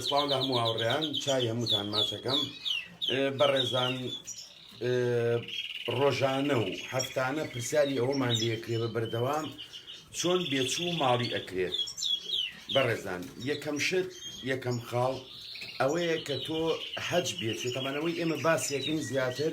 سڵاو لە هەموو هاوڕێیان چای هەمووتان ماچەکەم بەڕێزان ڕۆژانە و هەفتانە پرسیاری ئەوەمان لەکرێ بە بەردەوام چۆن بێچوو ماڵی ئەکرێت بەڕێزان یەکەم شت یەکەم خاڵ ئەوەیە کە تۆ حەج بێت تەمانەوەی ئێمە باسیەکەین زیاتر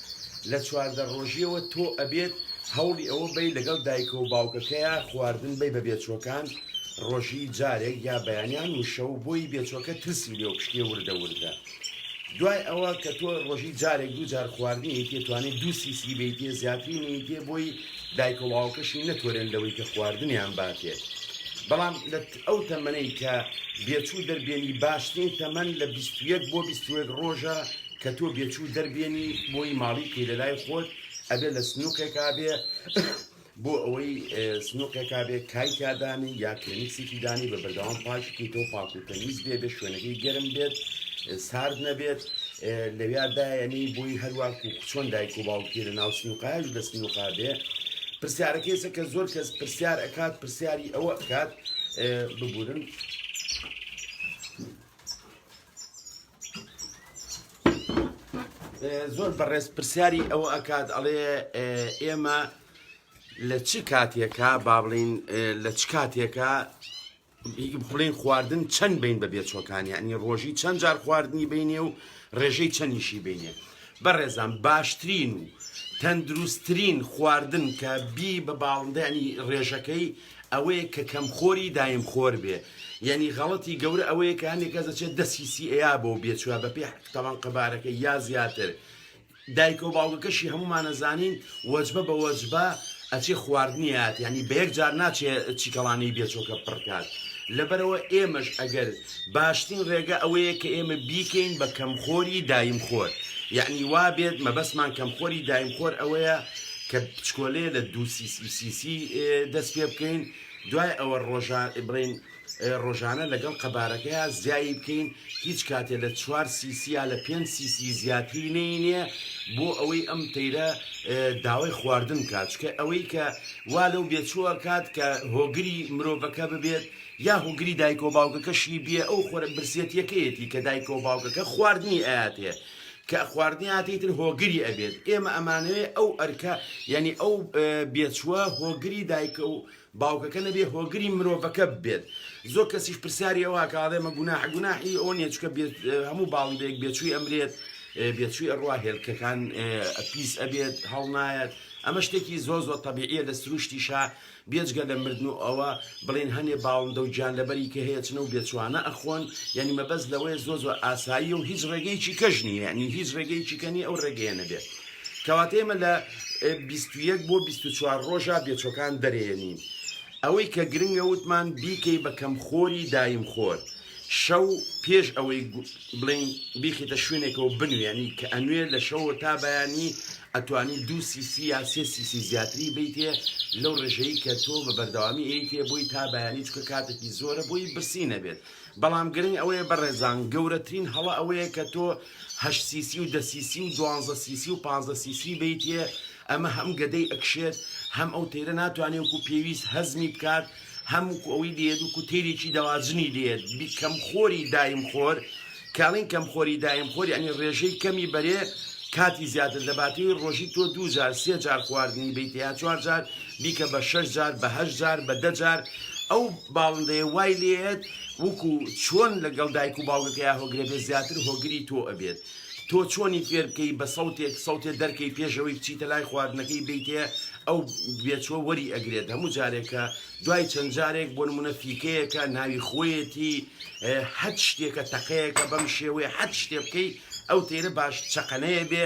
لە چواردە ڕۆژیەوە تۆ ئەبێت هەوڵی ئەوە بەی لەگەڵ دایکە و باوکەکەیا خواردن بەی بە بێچوەکان ڕۆژی جارێک یا بەیانیان و شەو بۆی بێچوەکە ترسی لێو پشکێ وردە وردە دوای ئەوە کە تۆ ڕۆژی جارێک دوو جار خواردنی تێتوانێت دوو سیسی بیتێ زیاتری نیتێ بۆی دایکە و باوکەشی نەتوەرێن لەوەی کە خواردنیان باتێت بەڵام لە ئەو تەمەنەی کە بێچوو دەربێنی باشترین تەمەن لە بیست و یەک بۆ بیست و یەک ڕۆژە کە تۆ بێچوو دەربێنی بۆی ماڵی بکەی لە لای خۆت ئەبێ لە سنووقێکا بێ بۆ ئەوەی سنووقێکا بێ کای تیادانی یا کلێنکسێکی دانی بە بەردەوام پاکی کەیتۆ پاک و تەمیز بێ بێ شوێنەکەی گەرم بێت سارد نەبێت لەویا دایەنی بۆی هەروە و چۆن دایک و باوکی لە ناو سنووقایش لە سنووقا بێ پرسیارەکەیسە کە زۆر کەس پرسیار ئەکات پرسیاری ئەوە ئەکات ببورن. زۆر بەڕێز پرسیاری ئەوە ئەکات ئەڵێ ئێمە لە چ کاتێکە با بڵین لە چ کاتێکە بڵین خواردن چەند بین بە بێچۆکانی ینی ڕۆژی چەند جار خواردنی بینێ و ڕێژەی چەنیشی بینێ بەڕێزان باشترین و تەندروستترین خواردن کە بی بە باڵندە یانی ڕێژەکەی ئەوەیە کە کەم خۆری دایم خۆر بێ یانی غەڵەتی گەورە ئەوەیە کە هەندێک کەس دەچێت دە سی سی ئەیا بۆ بێچوە بە پێ تەوان قەبارەکە یا زیاتر دایکە و باوگەکەشی هەمومانەزانین وەجبە بە وەجبە ئەچێ خواردنی ئات یانی بەیەک جار ناچێ چیکەڵانەی بێچۆکە پڕ کات لەبەرەوە ئێمەش ئەگەر باشترین ڕێگە ئەوەیە کە ئێمە بیکەین بە کەمخۆری دایم خۆر یانی وابێت مەبەستمان کەمخۆری دایم خۆر ئەوەیە کە بچکۆلەیە لە دوو سی سی سی سی دەست پێ بکەین دوای ئەوە ڕۆژان بڵین ڕۆژانە لەگەڵ قەبارەکەیا زیایی بکەین هیچ کاتێ لە چوار سیسی یا لە پێنج سیسی زیاتری نەینێ بۆ ئەوەی ئەم تەیرە داوای خواردن کات چکە ئەوەی کە وا لەو بێچووە کات کە هۆگری مرۆڤەکە ببێت یا هۆگری دایک و باوکەکەشی بێ ئەو خۆرە برسیەتیەکەیەتی کە دایک و باوکەکە خواردنی ئااتێ کە خواردنی هاتی تر هۆگری ئەبێت ئێمە ئەمانەوێ ئەو ئەرکە یعنی ئەو بێچووە هۆگری دایکە و باوکەکە نەبێ هۆگری مرۆڤەکە بێت زۆر کەسیش پرسیاری ئەوەکە ئاڵێ مە گوناحە گوناحی ئەوە نیە چکە بێت هەموو باڵی بەیەک بێچووی ئەمرێت بێچووی ئەڕوا هێلکەکان پیس ئەبێت هەڵنایەت ئەمە شتێکی زۆ زۆ تەبیعە لە سروشتیشا بێجگە لە مردن و ئەوە بڵێن هەنێ باڵندە و گیان لەبەری کە هەیە چنە و بێچوانە ئەخۆن یعنی مەبەست لەوەیە زۆ زۆ ئاسایی و هیچ ڕێگەیەکی کەژنی یعنی هیچ ڕێگەیەکی کەنی ئەو ڕێگەیە نەبێت کەواتە ئێمە لە بیست و یەک بۆ بیست و چوار ڕۆژا بێچوەکان دەرێنین ئەوەی کە گرنگە وتمان بیکەی بە کەمخۆری دایم خۆر شەو پێش ئەوەی بڵین بیخیتە شوێنێکەوە بنوێنی کە ئەنوێ لە شەوە تا بەیانی ئەتوانی دوو سیسی یا سێ سیسی زیاتری بیتێ لەو ڕێژەی کە تۆ بە بەردەوامی ئەیتێ بۆی تا بەیانی چکە کاتێکی زۆرە بۆی برسی نەبێت بەڵام گرنگ ئەوەیە بە ڕێزان گەورەترین هەڵە ئەوەیە کە تۆ هەشت سیسی و دە سیسی و دوانزە سیسی و پانزە سیسی بەیتێ ئەمە هەم گەدەی ئەکشێت هەم ئەو تەیرە ناتوانێ وکو پێویست هەزمی بکات هەم وکو ئەوەی لێت وکو تەیرێکی دەواجنی لێت بی کەم خۆری دایم خۆر کاڵین کەم خۆری دایم خۆر یانی ڕێژەی کەمی بەرێ کاتی زیاتر دەباتەوەی ڕۆژی تۆ دوو جار سێ جار خواردنی بیت یا چوار جار بیکە بە شەش جار بە هەشت جار بە دە جار ئەو باڵندەیە وای لێئەت وەکو چۆن لەگەڵ دایک و باوکەکەیا هۆگرەبێت زیاتر هۆگری تۆ ئەبێت تۆ چۆنی فێر بکەی بە سەوتێک سەوتێ دەرکەی پێش ئەوەی بچیتە لای خواردنەکەی بێیتێ ئەو بێچوە وەری ئەگرێت هەموو جارێک کە دوای چەند جارێک بۆ نمونە فیکەیەکە ناوی خۆیەتی هەچ شتێکە تەقەیەکە بەم شێوەیە هەچ شتێ بکەی ئەو تێرە باش چەقەنەیە بێ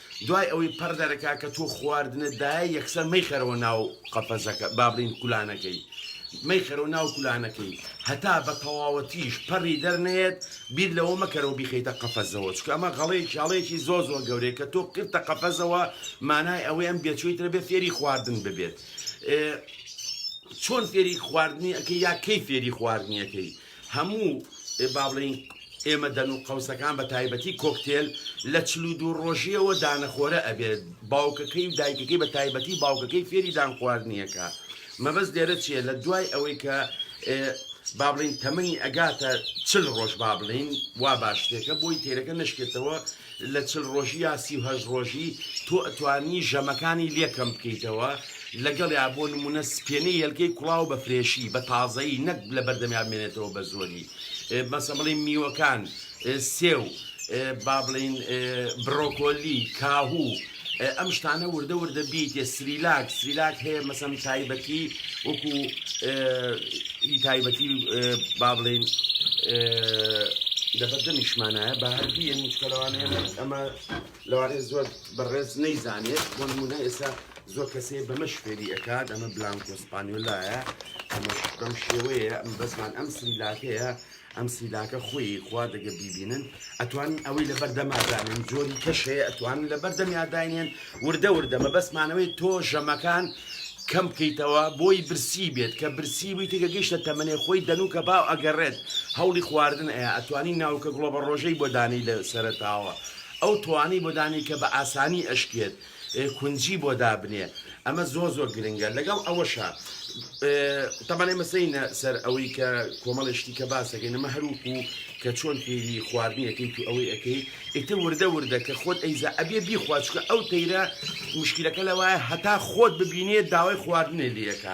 دوای ئەوەی پەڕ دەرەکا کە تۆ خواردنت دایە یەکسەر مەیخەرەوە ناو قەفەزەکە با بڵێین کولانەکەی مەیخەرەوە ناو کولانەکەی هەتا بە تەواوەتیش پەڕی دەرنەیەت بیر لەوە مەکەرەوە بیخەیتە قەفەزەوە چکە ئەمە غەڵەیەکی هەڵەیەکی زۆر زۆر گەورەیە کە تۆ کرتە قەفەزەوە مانای ئەوەی ئەم بێچووی ترە بێ فێری خواردن ببێت چۆن فێری خواردنی ئەەکەی یا کەی فێری خواردنیەکەی هەموو با بڵێین ئێمە دەن و قەوسەکان بە تایبەتی کۆکتێل لە چل و دوو ڕۆژیەوە دانەخۆرە ئەبێت باوکەکەی و دایکەکەی بە تایبەتی باوکەکەی فێری دان خواردنیەکە مەبەست لێرە چیە لە دوای ئەوەی کە با بڵین تەمەنی ئەگاتە چل ڕۆژ با بڵین وا باشتێکە بۆی تێرەکە نشکێتەوە لە چل ڕۆژی یا سی و هەشت ڕۆژی تۆ ئەتوانی ژەمەکانی لێ کەم بکەیتەوە لەگەڵیا بۆ نمونە سپێنەی هێلکەی کوڵاو بە فرێشی بە تازەیی نەک لە بەردەمیا بمێنێتەوە بە زۆری مەسەڵەن بڵێین میوەکان سێو با بڵێین برۆکۆلی کاهوو ئەم شتانە وردە وردە بیتێ سریلاک سریلاک هەیە مەسەم تایبەتی وەکو تایبەتی با بڵین لەبەر دەمیشمانایە بە هەردی هیچکەلەوانە ئەمە لەوانێ زۆر بەڕێز نەیزانێت بۆ نمونە ئێستا زۆر کەسێ بەمە شفێری ئەکات ئەمە بلانکۆسپانیۆلایە ئەمەش بەم شێوەیە ئەم بەزمان ئەم سریلاکەیە ئەم سیلاکە خۆیی خوا دەگە بیبینن ئەتوانن ئەوەی لەبەر دەما دانێن جۆری کەش هەیە ئەتوانن لەبەر دەمیا داینێن وردە وردە مەبەستمانەوەی تۆ ژەمەکان کەم بکەیتەوە بۆی برسی بێت کە برسی بووی تێکە گەیشتە تەمەێ خۆی دەنوکە باو ئەگەڕێت هەوڵی خواردن ئەیە ئەتوانی ناوکە گوڵە بە ڕۆژەی بۆدانی لە سەرتاوە ئەو توانەی بۆدانی کە بە ئاسانی ئەشکێت کونجی بۆ دابنێ ئەمە زۆر زۆر گرنگە لەگەڵ ئەوەشا تەبان ئێمە سینە سەر ئەوەی کە کۆمەڵی شتی کە باسەکەین ئەمە هەروکو کە چۆن فێری خواردنیەکەی تو ئەوەی ئەەکەی ئیتر وردە وردە کە خۆت ئەیزا ئەبێ بیخواچکە ئەو تەیرە مشکلەکە لەوایە هەتا خۆت ببینێت داوای خواردنێ لەکە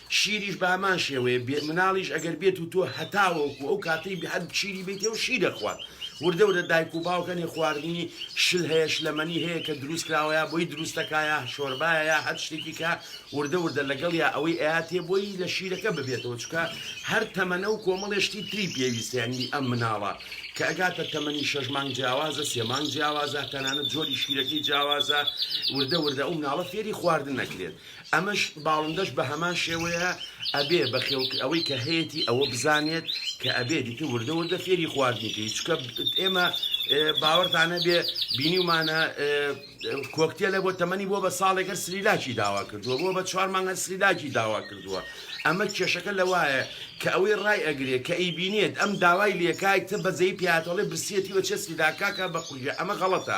شیریش بە هەمان شێوەیە بێ مناڵیش ئەگەر بێت و تۆ هەتاوەکو ئەو کاتەی بحد بشیری بەیتێ و شیر ئەخوات وردە وردە دایک و باوک هەنێ خواردنی شل هەیە شلەمەنی هەیە کە دروست کراوە یا بۆی دروست دەکا یا شۆربایە یا هەر شتێکی کە وردە وردە لەگەڵ یا ئەوەی ئەیاتێ بۆی لە شیرەکە ببێتەوە چکە هەر تەمەنە و کۆمەڵێ شتی تری پێویستە یانی ئەم مناڵە کە ئەگاتە تەمەنی شەش مانگ جیاوازە سێ مانگ جیاوازە تەنانەت جۆری شیرەکەی جیاوازە وردە وردە ئەو مناڵە فێری خواردن ئەکرێت ئەمەش باڵندەش بە هەمان شێوەیە ئەبێ بە خێڵ ئەوەی کە هەیەتی ئەوە بزانێت کە ئەبێ دیتر وردە وردە فێری خواردنی کەی چکە ئێمە باوەڕتانە بێ بینیومانە کۆکتێلە بۆ تەمەنی بۆ بە ساڵێکەر سریلاکی داوا کردووە بۆ بە چوار مانگەر سریلاکی داوا کردووە ئەمە کێشەکە لە وایە کە ئەوەی ڕای ئەگرێ کە ئەی بینێت ئەم داوای لەکایکتە بەزەی پیاتەڵێ برسیەتی وە چێ سریلاکاکە بە قوژە ئەمە غەڵەتە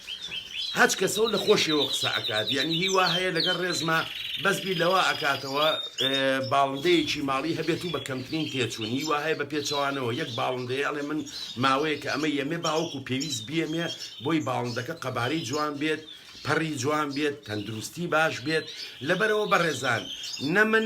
هەچ کەسەو لە خۆشیەوە قسە ئەکات یەعنی هی وا هەیە لەگەل رێزما بەس بیر لەوە ئەکاتەوە باڵندەیەکی ماڵی هەبێتو بە کەمترین تێچون هی وا هەیە بە پێچەوانەوە یەک باڵندەیە ئەلێ من ماوەیەکە ئەمە یەمێ باوەکو پێویست بیەمێ بۆی باڵندەکە قەبارەی جوان بێت پەڕی جوان بێت تەندروستی باش بێت لەبەرئەوە بەڕێزان نە من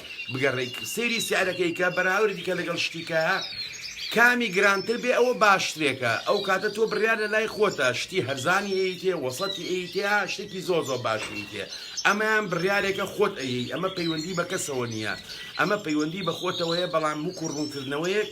بگەڕێک سەیری سعرەکەی کە بەراوردی کە لەگەڵ شتی کە کامی گرانتر بێ ئەوە باشترێکە ئەو کاتە تۆ بڕیار لە لای خۆتە شتی هەرزانی ئەیتێ وەسەتی ئەیتێ شتێکی زۆ زۆ باشی تێ ئەمەیان بڕارێکە خۆت ئەیی ئەمە پەیوەندی بە کەسەوە نییە ئەمە پەیوەندی بە خۆتەوەیە بەڵام وکو ڕوونکردنەوەیەک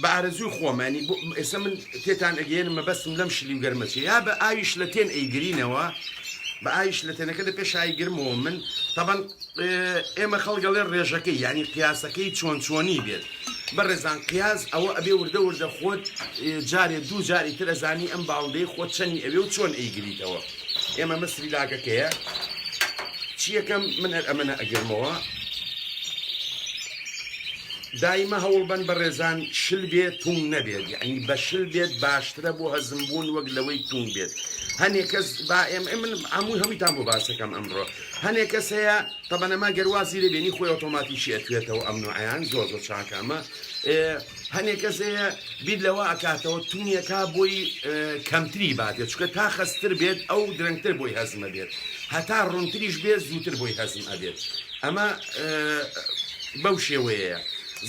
بە ئارەزووی خۆمانی بۆ ئێستا من تێتان ئەگەێنم مەبەستم لەم شلی و گەرمەچێ یا بە ئاویش لە تێن ئەیگرینەوە بە ئاویش لە تێنەکە لە پێشایی گرمەوە من تەبەن ئێمە خەڵگەڵێ ڕێژەکەی ینی قیاسەکەی چۆن چۆنی بێت بە ڕێزان قیاز ئەوە ئەبێ وردە وردە خۆت جارێ دوو جاری تر ئەزانی ئەم باوندەی خۆت چەنی ئەوێ و چۆن ئەیگریتەوە ئێمە مەسری لاگەکەیە چیەکەم من هەر ئەمەە ئەگرمەوە دایمە هەوڵبەن بەڕێزان شل بێ تونگ نەبێت یعنی بە شل بێت باشترە بۆ هەزم بوون وەک لەوەی تونگ بێت هەنێ کەس با ئێم من هەموو هەمووتان بۆ باسەکەم ئەمڕۆ هەنێ کەس هەیە تەبەنەما گەروازی لێبێنی خۆی ئۆتۆماتیکی ئەتوێتەوە ئەم نوعیان زۆر زۆر چاکە ئەمە هەنێ کەس هەیە بیر لەوە ئەکاتەوە تونیەکا بۆی کەمتری بابێت چکە تا خەستر بێت ئەو درەنگتر بۆی هەزمە بێت هەتا ڕونتریش بێت زووتر بۆی هەزم ئەبێت ئەمە بەو شێوەیە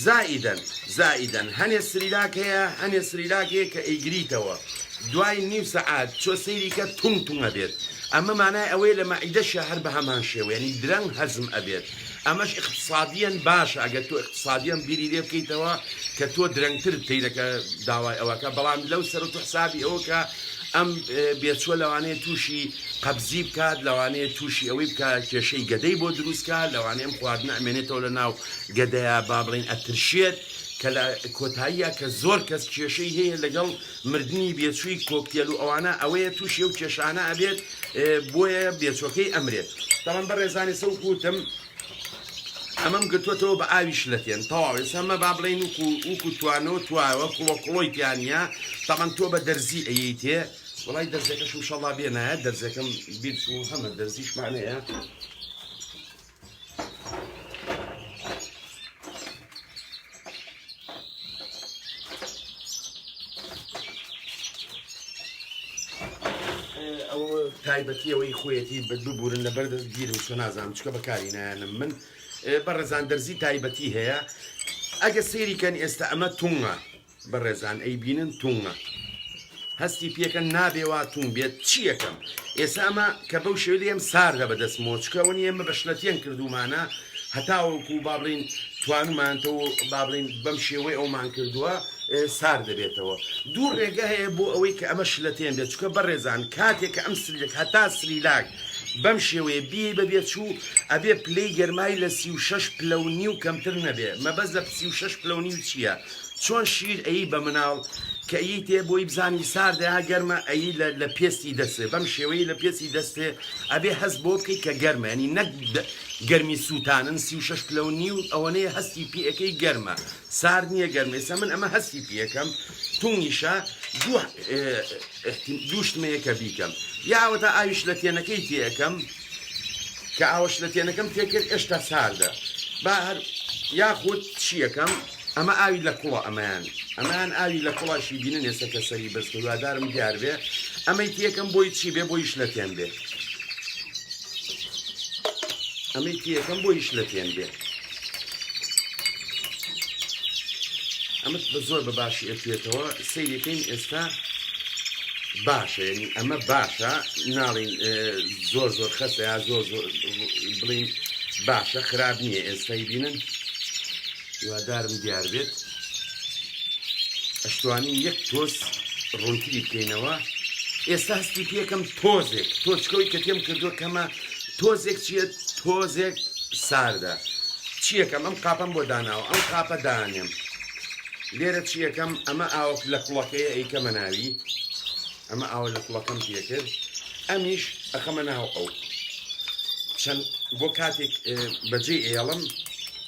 زائیدەن زائیدەن هەنێ سریلاک هەیە هەنێ سریلاک هەیە کە ئەیگریتەوە دوای نیو سەعات چۆ سەیری کە تونگ تونگە بێت ئەمە مانای ئەوەیە لە مەعیدەشە هەر بە هەمان شێوەیەنی درەنگ هەزم ئەبێت ئەمەش ئیقتسادیەن باشە ئەگەر تۆ ئیقتسادیەن بیری لێ بکەیتەوە کە تۆ درەنگتر تەیرەکە داوای ئەوەکە بەڵام لەو سەر تۆ حسابی ئەوە کە ئەم بێچوە لەوانەیە تووشی قەبزی بکات لەوانەیە تووشی ئەوەی بکە کێشەی گەدەی بۆ دروستکە لەوانەیەم خواردن ئەمێنێتەوە لە ناو گەدەیە با بڵین ئەترشێت کە لە کۆتاییە کە زۆر کەس کێشەی هەیە لەگەڵ مردنی بێچووی کۆکتێل و ئەوانە ئەوەیە تووشی ئەو کێشانە ئەبێت بۆیە بێچوەکەی ئەمرێت بەڵام بەڕێزانێ سە وکوتم ئەمەم گرتوەتەوە بە ئاوی شلەتێن تەواو ئێستا مە با بڵێن و وکو توانەوە توایەوە کوڵۆ کوڵۆی تیانە تەمان تۆ بە دەرزی ئەیت تێ وڵی دەرزەکەشم شەڵا بێ نایە دەرزەکەم بیرچوو هەمە دەرزیشمانەیە تایبەتی ئەوەی خۆیەتی بە ببورن لە بەردەست گیرم چۆ نازانم چکە بەکاری نایەنم من بە ڕزان دەرزی تایبەتی هەیە ئەگە سێریکەن ئێستا ئەمە تونگە بەڕێزان ئەی بینن توومە هەستی پێکەن نابێ وا تووم بێت چی یەکەم ئێسا ئەمە کە بەو شێ لێم ساردە بە دەست مۆچکەوە نیە ئمە بە شلەتێن کردومانە هەتاوەکو و بابلین توانمانتەوە بابلین بەم شێوەی ئەومان کردووە سارد دەبێتەوە دوو ڕێگە هەیە بۆ ئەوەی کە ئەمە شلەتێن بێت چکە بەڕێزان کاتێک کە ئەم سلێک هەتا سریلاک بەم شێوەیە بی بەبێ چوو ئەبێ پلەی گەرمای لە سی و شش پلە و نیو کەمتر نەبێ مەبەز لە سی و شش پلە و نیو چییە؟ چۆن شیر ئەیی بە مناڵ کە ئەیی تێ بۆی بزانی ساردە یا گەرمە ئەیی لە پێستی دەسێ بەم شێوەی لە پێسی دەستێ ئەبێ هەست بۆ بکەی کە گەرمە ینی نەک گەرمی سووتانن سی و شش پلەو نیو ئەوەنەیە هەستی پێەکەی گەرمە سار نییە گەرمێ سە من ئەمە هەستی پێەکەم تونگیشە دوو دووشتمەیەکە بیکەم یاوەتا ئاویش لە تێنەکەی تێەکەم کە ئاوەش لە تێنەکەم تێکرد ئێشتا ساردە با هەر یاخود چیەکەم ئەمە ئاوی لە کوڵە ئەمەیان ئەمەیان ئاوی لە کوڵە شیبینە نێسە کە سەری بەرز کە هیوادارم دیار بێ ئەمەی تیەکەم بۆی چی بێ بۆی شلەتێن بێ ئەمەی تیەکەم بۆی شلەتێن بێ ئەمە بە زۆر بە باشی ئەتوێتەوە سەیرەکەین ئێستا باشە ینی ئەمە باشە ناڵین زۆر زۆر خەسەیە زۆر زۆر بڵین باشە خراپ نییە ئێستای بینن هیوادارم دیار بێت ئەشتوانین یەک تۆز ڕوونتری بکەینەوە ئێستا هەستی پێکەم تۆزێک تۆچکەوەی کە تێم کردووە کەمە تۆزێک چیە تۆزێک ساردە چیەکەم ئەم قاپەم بۆ داناوە ئەم قاپە دانێم لێرە چیەکەم ئەمە ئاوک لە کوڵەکەی ئەیکەمە ناوی ئەمە ئاوە لە کوڵەکەم پێکرد ئەمیش ئەخەمە ناو ئەو چەند بۆ کاتێک بەجێ ئێڵم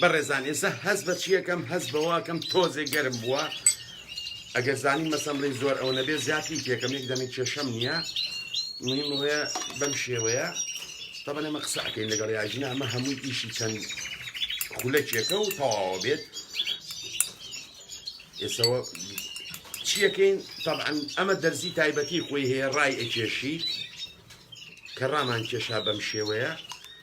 بەڕێزان ئێستا هەست بە چیەکەم هەست بەواکەم تۆزێ گەرم بووە ئەگەر زانی مەسەمڕی زۆر ئەو نەبێ زیاتری پێکەم یەک دەمی کێشەم نییە مهم هەیە بەم شێوەیە تەبەن ئەمە قسەکەین لەگەڵ یاژینا ئەمە هەمووی ئیشی چەند خولەکێکە و تەواوە بێت ئێسەوە چیەکەین تاعاان ئەمە دەرزی تایبەتی خۆی هەیە ڕای ئەکێشی کە ڕامان کێشا بەم شێوەیە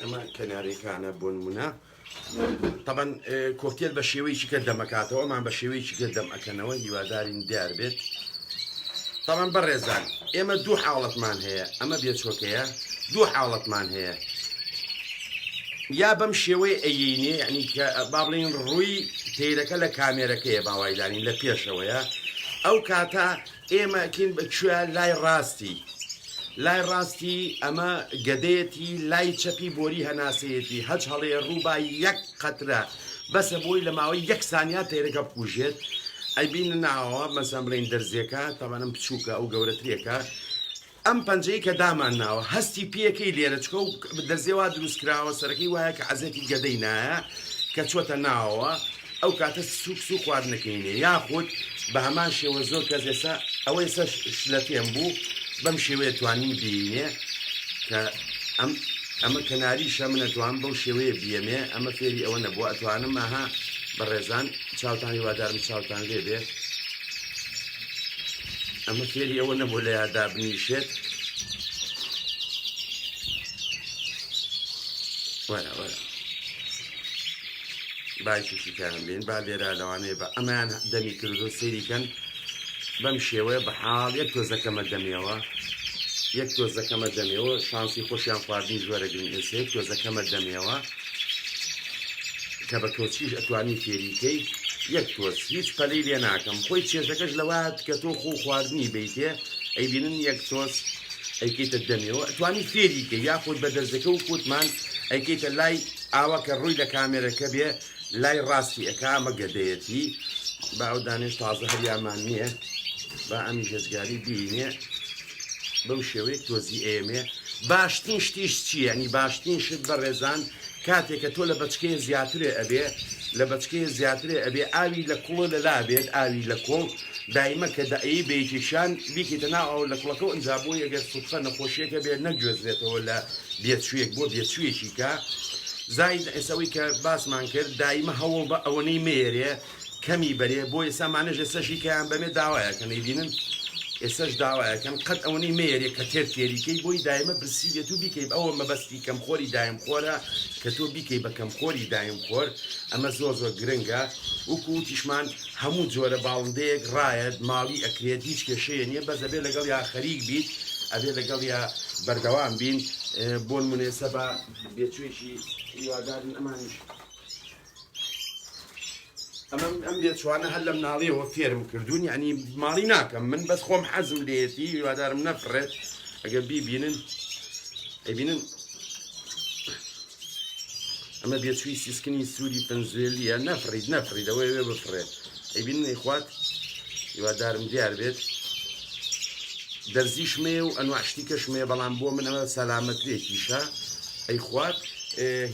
ئەمە کەنارێکانە بۆ نمونە طبعاً کۆکتێل بە شێوەیەکی کە دەمەکاتەوە ئەمان بە شێوەیەکی گە دەم ئەکەنەوە هیوادارین دیار بێت طبعاً بەڕێزان ئێمە دوو حاڵەتمان هەیە ئەمە بێچۆکەیە دوو حاڵەتمان هەیە یا بەم شێوەی ئەینێ ینی کە با بڵین ڕووی تیرەکە لە کامێرەکەیە باوایدانین لە پێشەوەیە ئەو کاتە ئێمە کین بە کوێ لای ڕاستی لای ڕاستی ئەمە گەدەیەتی لای چەپی بۆری هەناسەیەتی هەچ هەڵێ ڕووبا یەک قەترە بەسە بۆی لە ماوەی یەک سانیا تەیرەکە بکوژێت ئەیبین ناوە مەسەم بڵین دەرزیەکە تاوانم بچووکە ئەو گەورەترێکە ئەم پەنجەی کە دامان ناوە هەستی پێکەی لێرە چکە و دەرزێ وا دروست کراوە سەرەکەی وایە کە عەزێتی گەدەی نایە کە چۆتە ناوەوە ئەو کاتە سوک سو خواردنەکەینێ یاخود بە هەمان شێوە زۆر کەس ئێستا ئەوەی سەر شلە پێم بوو بەم شێوەیە توانیم بینێ کە ئەم ئەمە کەناریشە منەتوان بەو شێوەیە بیەمێ ئەمە فێری ئەوە نەبووە ئەتوانم ئاها بە ڕێزان چاوتان هیوادارم چاوتان لێ بێ ئەمە فێری ئەوە نەبوو لە یادا بنیشێت وەرە وەرە باکیشی کارم بین با لێرا لەوانەیە بە ئەمان دەمی کردو سەیریکەن بەم شێوەیە بە حاڵ یەک تۆزەکەمە دەمێەوە یەک تۆزەکەمە دەمێەوە شانسی خۆشیان خواردنی جۆرە گرنگسێک تۆزەکەمە دەمێەوە کە بە کۆچیش ئەتوانی فێری کەی یەک تۆز هیچ پەلەی لێ ناکەم خۆی چێژەکەش لەوایەت کە تۆ خۆ خواردنی بیتێ ئەی بینن یەک تۆز ئەیکەیتە دەمێەوە ئەتوانی فێری کە یاخود بە دەرزەکە و کوتمان ئەیکەیتە لای ئاوا کە ڕووی لە کامێرەکە بێ لای ڕاستی ئەک ئەمە گەدەیەتی باودانێش تازە هەریامان نییە با ئەمی هێزگاری بینێ بەم شێوەیە تۆزی ئەیەمێ باشترین شتیش چی یعنی باشترین شت بەڕێزان کاتێکە تۆ لە بەچکەیە زیاترێ ئەبێ لە بەچکەیە زیاترێ ئەبێ ئاوی لە کوڵە لەلا بێت ئاوی لە کۆڵ دایمە کە دەعی بەیەکێکیان بیکەیتە ناو ئەو لە کوڵەکە و ئەنجا بۆی ئەگەر سوتفە نەخۆشیەکە بێت نەگوێزرێتەوە لە بێچوویەک بۆ بێچوویەکی کە زاید ئێسەوەی کە باسمان کرد دایمە هەوڵ بە ئەوەنەی مێرێ کەمی بەرێ بۆ ئێسا مانەش ئێسەشی کەیان بەمێ داوایە کە نەیبینن ئێسەش داوایە کەن قەت ئەوەنەی مەیەرێ کە تێر تێری کەی بۆی دایمە برسی بێت و بیکەی ئەوە مەبەستی کەم خۆری دایم خۆرە کە تۆ بیکەی بە کەم خۆری دایم خۆر ئەمە زۆر زۆر گرنگە وکو وتیشمان هەموو جۆرە باڵندەیەک ڕایەت ماڵی ئەکرێت هیچ کێشەیە نیە بەس ئەبێ لەگەڵ یا خەریک بیت ئەبێ لەگەڵ یا بەردەوام بین بۆن منێسە بە بێچوێکی هیوادارین ئەمانیش ئەمە ئەم لێچوانە هەر لە مناڵیەوە فێرم کردوون یعنی ماڵی ناکەم من بەس خۆم حەزم لێتی هیوادارم نەفرێت ئەگەر بیبینن ئەبینن ئەمە بێچوی سیسکنی سووری پنجێلیە نەفرید نەفریدەوەی وێ بفرێت ئەیبینن ئەیخوات هیوادارم دیار بێت دەرزیش مەیە و ئەنواع شتی کەش مەیە بەڵام بۆ من ئەمە سەلامەترێکیشە ئەیخوات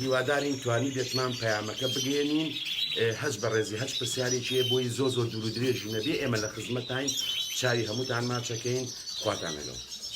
هیوادارین توانی بێتمان پەیامەکە بگەێنین هەز بە ڕێزی هەچ پرسیارێکی بۆی زۆ زۆ دوور درێژی نەبێ ئێمە لە خزمەتین چاوی هەمووتان ماچەکەین خواتان لەگەڵ.